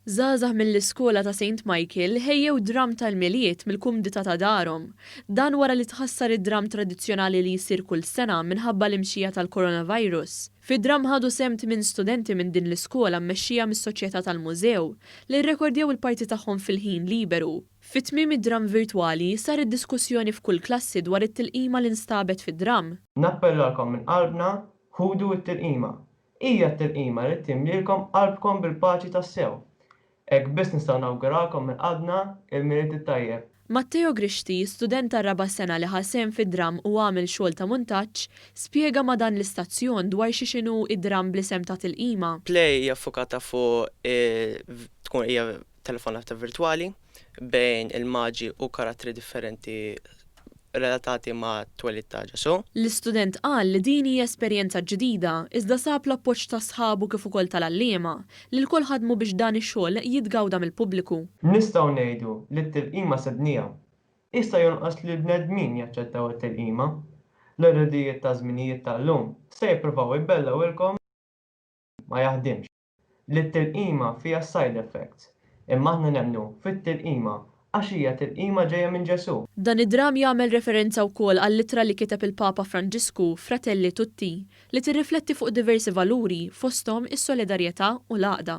Żgħażagħ mill-iskola ta' Saint Michael ħejjew dramm tal-Milied mill-kumdità ta' darhom. Dan wara li tħassar id-dramm tradizzjonali li jsir kull sena minħabba l-imxija tal-Coronavirus. Fid-dramm ħadu sehem tmien studenti minn din l-iskola mmexxija mis-Soċjetà tal-Mużew, li rrekordjaw il-parti tagħhom fil-ħin liberu. Fi tmiem id-dramm virtwali, sar id-diskussjoni f'kull klassi dwar it-tilqima li nstabet fid-dramm. Nappellalkom minn qalbna, ħudu t-tilqima. Hija t-tilqima li timlielkom qalbkom bil-paċi tassew. Hekk biss nistgħu nawguralkom minn qalbna il-Milied it-Tajjeb. Matteo Grixti, student tar-raba' sena li ħa sehem fid-dramm u għamel xogħol ta' muntaġġ, spjega ma' dan l-istazzjon dwar xi x'inhu d-dramm bl-isem ta' Tilqima. Play hija ffukata fuq it-tkunqija telefonata virtwali bejn il-Maġi u karattri differenti relatati mat-twelid ta' Ġesù. L-istudent qal li din hi esperjenza ġdida iżda sab l-appoġġ ta' sħabu kif ukoll tal-għalliema li lkoll ħadmu biex dan ix-xogħol jitgawda mill-pubbliku. Nistgħu ngħidu li t-tilqima sednija. Issa jonqos li l-bnedmin jaċċettaw it-tilqima. L-irdijiet taż-żminijiet tal-lum se jippruvaw ibellgħulkom li dan ma jaħdimx. li t-tilqima fiha side effects, imma aħna nemmnu fit-tilqima għax hija tilqima ġejja minn Ġesù. Dan id-dramm jagħmel referenza wkoll għall-ittra li kiteb il-Papa Franġisku, Fratelli Tutti, li tirrifletti fuq diversi valuri, fosthom is-solidarjetà u l-għaqda.